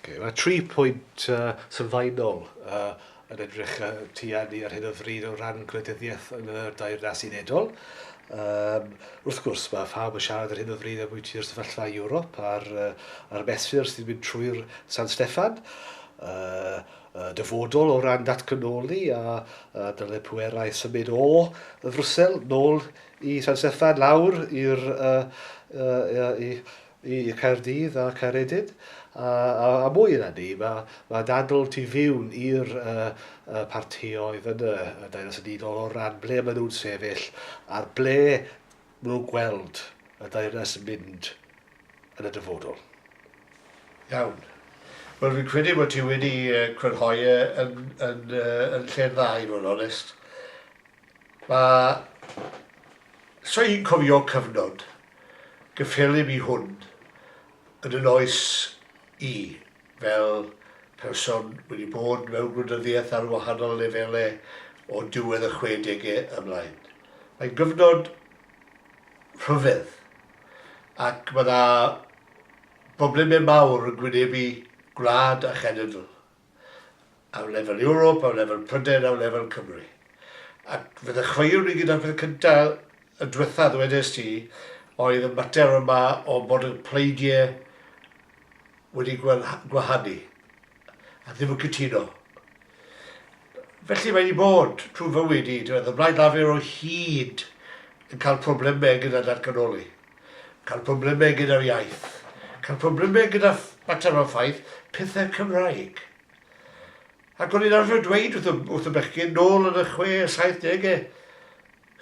Oce, mae tri pwynt sylfaenol yn edrych tuag ni ar hyn o bryd o ran gwleidyddiaeth yn y Deyrnas Unedol. Wrth gwrs, mae phawb yn siarad ar hyn o bryd ambwytu'r sefyllfa i Ewrop a'r mesur sy'n mynd trwy'r San Steffan, y dyfodol o ran datganoli a dylai pwerau symud o Frwsel nôl i San Steffan, lawr i'r i Caerdydd a Caeredin, a mwy na 'ny, mae dadl tu fiwn i'r partïoedd yn y Deyrnas Unigol o ran ble maen nhw'n sefyll a'r ble maen nhw'n gweld y Deyrnas yn mynd yn y dyfodol. Iawn. Wel, fi'n credu bod ti wedi crynhoi e yn lle'n dda i fod yn onest. Mae... Sa i'n cofio cyfnod gyffelyb i hwn yn yn oes i, fel person wedi bod mewn gwleidyddiaeth ar wahanol lefelau o diwedd y chwedegau ymlaen. Mae'n gyfnod rhyfedd ac mae 'na broblemau mawr yn gwynebu gwlad a chenedl. ar lefel Ewrop, ar lefel Prydain, ar lefel Cymru. Ac fe ddechreuwn i gyda'r peth cynta y dwetha ddwedest ti, oedd y mater yma o bod y pleidiau wedi gwahanu a ddim yn cytuno. Felly mae wedi bod trwy fywyd i, y Blaid Lafur o hyd yn cael problemau gyda datganoli. Cael problemau gyda'r iaith. Cael problemau gyda mater o ffaith, pethau Cymraeg. Ac o'n i'n arfer dweud wrth y, wrth y bechgyn nôl yn y chwe, saith degau,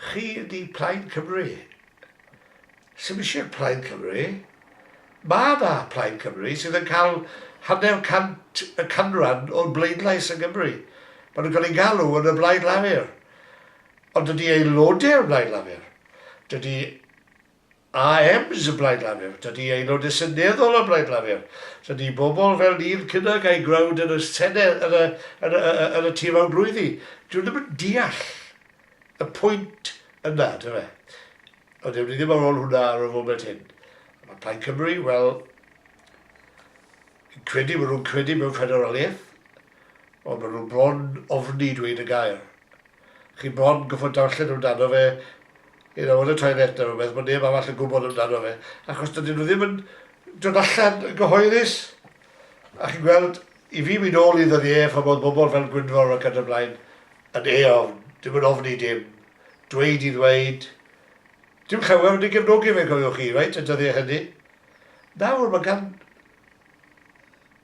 chi ydi Plaid Cymru. Sy'n eisiau Plaid Cymru. Mae yna Plaid Cymru sydd yn cael hanner cant y canran o'r bleidlais yn Gymru. Mae nhw'n cael ei galw yn y Blaid Lafur. Ond dydy Aelodau'r Blaid Lafur, dydy AMs y Blaid Lafur, dydy Aelodau Seneddol y Blaid Lafur, dydy bobl fel Neil Kinnock a'i gwrawd yn y Senedd, yn y, yn y, yn y Tir Fawr drwyddi, dydyn nhw ddim yn deall y pwynt yna, ynde fe. Ond ewn ni ddim ar ôl hwnna ar y foment hyn. Mae Plaid Cymru, wel, Credu bod nhw'n credu mewn ffederaliaeth, ond maen nhw bron ofni dweud y gair. Chi bron gorfod darllen amdano fe, you know, yn y toilet neu rhywbeth, bod neb arall yn gwybod amdano fe, achos dydyn nhw ddim yn dod allan yn gyhoeddus. A chi'n gweld, i fi mynd ôl i ddyddiau pan oedd bobl fel Gwynfor ac yn y blaen yn eofn, ddim yn ofni dim, dweud i ddweud, dim llawer wedi gefnogi fe cofiwch chi, reit, y dyddiau hynny. Nawr, mae gan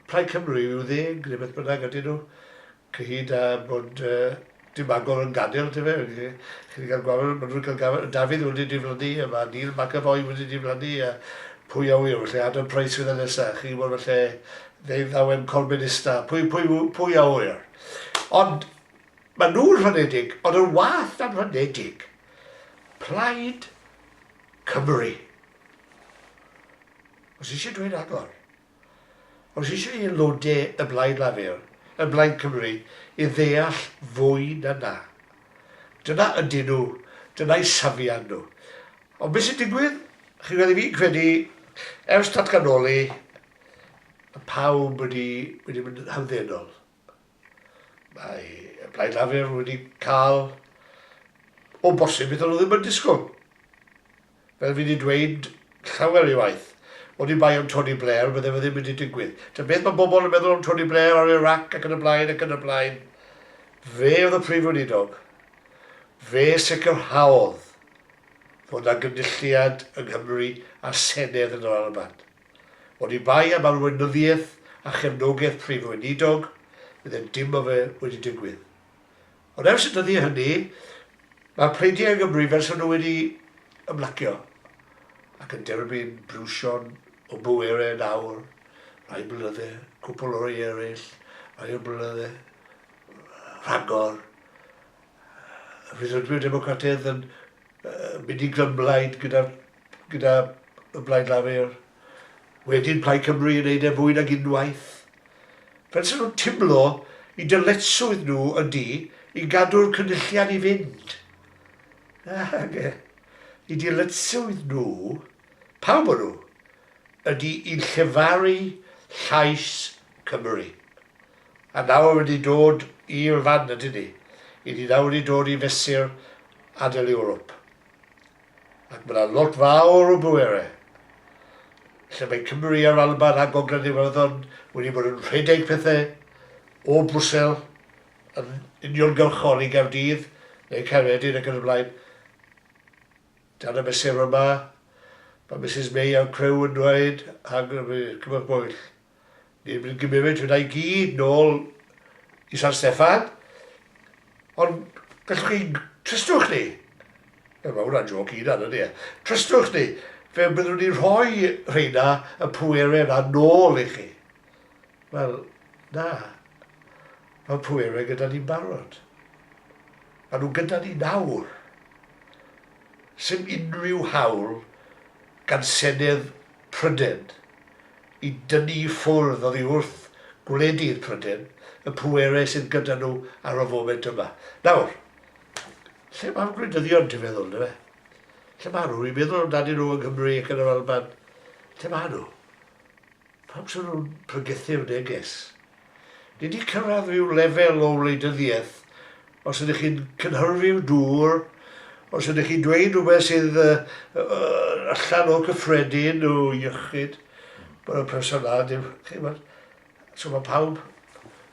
Plaid Cymru i'w ddeg, neu beth bynnag ydyn nhw, cyhyd â bod dim Bangor yn gadael, yndyfe? Chi wedi cael gwared, maen nhw wedi cael gwared, Dafydd wedi diflannu, a mae Neil McEvoy wedi diflannu, a pwy a ŵyr, felly Adam Price fydd y nesaf, chi'n gwybod, felly ddeuddawen Corbynista, pwy, pwy, pwy a ŵyr. Ond maen nhw'n rhanedig, ond yn wath na'n rhanedig, Plaid Cymru. Os eisiau dweud rhagor. Os eisiau Aelodau y Blaid Lafur, y Blaid Cymru, i ddeall fwy na 'na. Dyna ydyn nhw, dyna'u safiad nhw. Ond beth sy'n digwydd? Chi'n gwybod, 'y fi'n credu, ers datganoli, mae pawb wedi wedi mynd yn hamddenol. Mae y Blaid Lafur wedi cael, o bosib, beth o'n nhw ddim yn disgwyl. Fel fi wedi dweud llawer ei waith, oni bai am Tony Blair, bydde fe ddim wedi digwydd. Ta beth mae bobl yn meddwl am Tony Blair ar Iraq ac yn y blaen ac yn y blaen. Fe oedd y Prif Weinidog. Fe sicrhaodd fod yna gynulliad yng Nghymru a'r Senedd yn yr Alban. Oni bai am arweinyddiaeth a chefnogaeth Prif Weinidog, fydde dim o fe wedi digwydd. Ond ers y dyddiau hynny, mae'r pleidiau yn Gymru fel 'sa nhw wedi ymlacio, ac yn derbyn briwsion o bwerau yn awr, rhai blynydde, cwpl o rei eraill, rhai o blynydde, rhagor. Rhyddfrydwyr Democrataidd yn mynd i glymblaid gyda'r gyda Blaid Lafur, wedyn Plaid Cymru yn wneud e fwy nag unwaith, fel 'se nhw'n timlo i dyletswydd nhw ydi i gadw'r Cynulliad i fynd. Nage, i dyletswydd nhw, pawb o nhw, ydi i llefaru llais Cymru. A nawr wedi dod i'r fan ydyn ni, 'yn ni nawr wedi dod i fesur adael Ewrop. ac mae yna lot fawr o bwerau lle mae Cymru a'r Alban a Gogledd Iwerddon wedi bod yn rhedeg pethau o Brwsel yn uniongyrchol i Gaerdydd neu Caeredin ac yn y blaen. Dan y mesur yma, mae Misus May a'r criw yn dweud, a gymwch bwyll. Ni'n mynd gymifyd hwnna i gyd nôl i San Steffan. Ond gallwch chi, trystwch ni, Wel, mae hwnna'n joc i hunan, ydy e? Trystwch ni, fe byddwn ni'n rhoi rheina, y pwerau yna, nôl i chi. Wel, na. Mae'r pwerau gyda ni'n barod. Mae nhw gyda ni nawr. Sym unrhyw hawl gan Senedd Prydain, i dynnu i ffwrdd oddi wrth gwledydd Prydain, y pwerau sydd gyda nhw ar y foment yma. Nawr, lle mae'r gwleidyddion, ti'n meddwl, yndyfe? Lle maen nhw? Rwy'n meddwl amdanyn nhw yng Nghymru ac yn yr Alban. Lle maen nhw? Pam sy'n nhw'n pregethu'r neges? Ni 'di cyrraedd rhyw lefel o wleidyddiaeth, os ydych chi'n cynhyrfu'r dŵr, os ydych chi'n dweud rhywbeth sydd allan o cyffredin o iechyd, bod y person na, dim, chi'n gwybod. So mae pawb,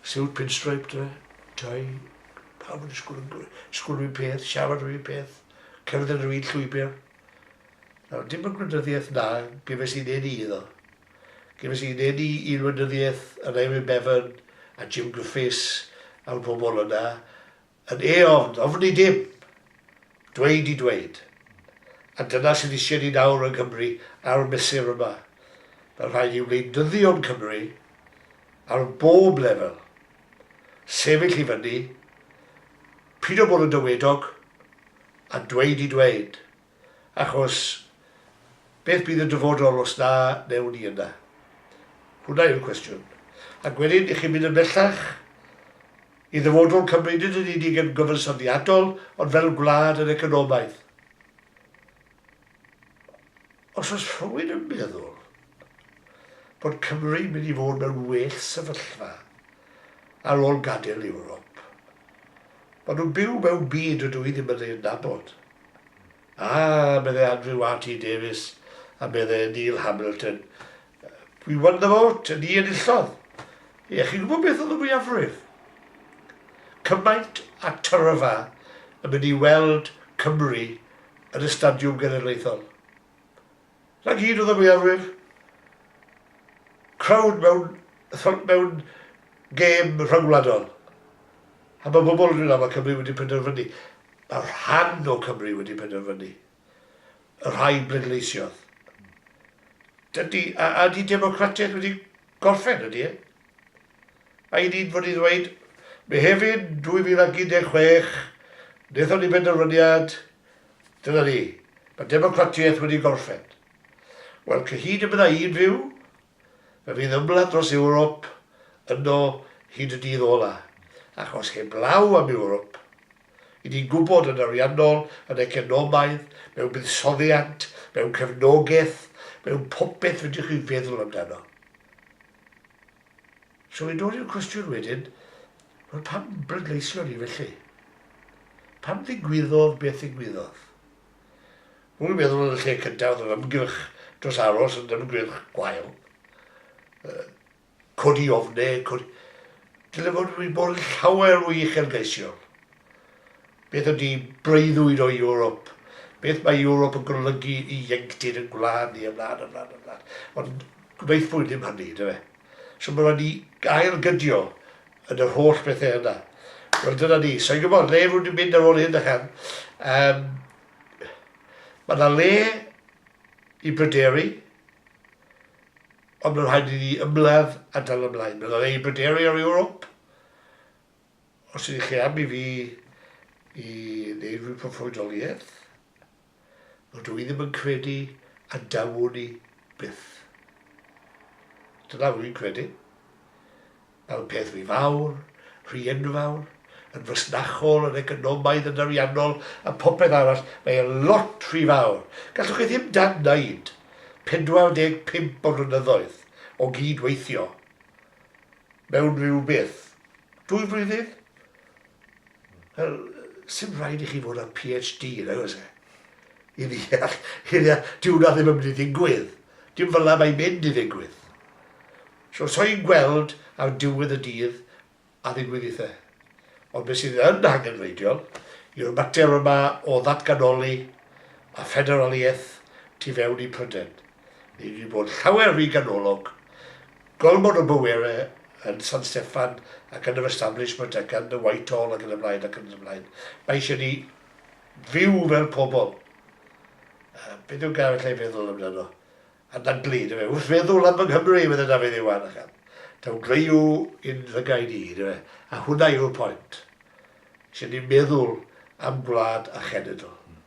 siwt pinstripe, dwi, tai, pawb yn disgwyl yn gwir, disgwyl rhywun peth, siarad rhywun peth, cerdded rhywun llwybr. Nawr, dim y gwleidyddiaeth na, gyfes i'n ei ni iddo. Gefais fy ngeni i'r weinyddiaeth yn Eirin Bevan a Jim Griffiths a'r pobl yna yn ei ofn, ofn i dim, dweud i dweud. A dyna sydd isie ni nawr yng Nghymru a'r mesur yma. Mae'n rhaid i wleidyddion Cymru ar bob lefel sefyll i fyny, pido bod yn dywedog a dweud i dweud. Achos beth bydd y dyfodol os na newn ni yna? Hwnna yw'r cwestiwn. Ac wedyn, i chi fynd yn bellach, i ddyfodol Cymru, nid yn unig yn gyfansoddiadol, ond fel gwlad yn economaidd. Os oes rhywun yn meddwl bod Cymru'n mynd i fod mewn well sefyllfa ar ôl gadael Ewrop, Maen nhw'n byw mewn byd dydw i ddim yn ei adnabod. A, meddai Andrew RT Davies, a meddai Neil Hamilton, We won the vote, ni enillodd. Ie, chi'n gwybod beth oedd y mwyafrif? Cymaint a tyrfa yn mynd i weld Cymru yn y Stadiwm Genedlaethol. Na gyd oedd y mwyafrif. Crowd mewn thon mewn gêm rhyngwladol. A mae pobl yn dweud na mae Cymru wedi penderfynu. Mae rhan o Cymru wedi penderfynu. Y rhai bleidleisiodd. Dydy, a, a di democratiaeth wedi gorffen ydy e? A i ni'n fod i ddweud, Mehefin 2016, wnaethon ni benderfyniad, Dyna ni. Mae democratiaeth wedi gorffen. Wel, cyhyd y bydda i'n fyw, fe fydd ymladd dros Ewrop yno hyd y dydd ola. Achos heblaw am Ewrop, i ni'n gwybod yn ariannol, yn economaidd, mewn buddsoddiant, mewn cefnogaeth, mewn popeth fedrwch chi feddwl amdano. So i ddod i'r cwestiwn wedyn, wel pam bleidleision ni felly? Pam ddigwyddodd beth ddigwyddodd? Rwy'n meddwl yn y lle cyntaf oedd yr ymgyrch dros aros yn ymgyrch gwael. Uh, codi ofnau, codi... Dyle fod wedi bod yn llawer o uchelgeisiol. Beth ydy breuddwyd o Ewrop? Beth mae Ewrop yn golygu i ieuenctid ein gwlad ni? Ymlaen, ymlaen, ymlaen. Ond gwnaethpwyd ddim hynny, ynde fe? So mae rhaid ni ail-gydio yn yr holl bethau yna. Wel, dyna ni. So i'n gwybod, le rwy'n mynd ar ôl hyn a chan. Um, mae yna le i bryderu, ond mae'n rhaid i ni ymladd a dal ymlaen. Mae'n rhaid i bryderu ar Ewrop, Os ydych chi am i fi i wneud rhywun proffwydoliaeth, rydw i ddim yn credu a dawwn i byth. Dyna rwy'n credu. Mae'r peth rhy fawr, rhy enfawr, yn fasnachol, yn economaidd, yn ariannol a phopeth arall, mae e lot rhy fawr. Gallwch chi ddim dad-wneud 45 o flynyddoedd o gyd-weithio. mewn rhyw beth, dwy flwyddyn? Wel, sdim rhaid i chi fod â PhD, nag oes e? I ddeall, i ddeall, dyw hwnna ddim yn mynd i ddigwydd. Dim fel 'na mae'n mynd i ddigwydd. So, so i'n gweld ar diwedd y dydd a ddigwyddiadau. Ond beth sydd yn angenrheidiol yw'r mater yma o ddatganoli a ffederaliaeth tu fewn i Prydain. ni wedi bod llawer rhy ganolog, gormod o bwerau yn San Steffan ac yn yr establishment ac yn y Whitehall ac yn y blaen ac yn y blaen. Mae eisiau ni fyw fel pobl. Uh, beth yw gael allai feddwl amdano? A dan blid, efe, wrth feddwl am fy Nghymru, fydde Dafydd Iwan, ac am daw greiw i'n llygaid i, efe, a hwnna yw'r pwynt. Eisiau ni meddwl am gwlad a chenedl.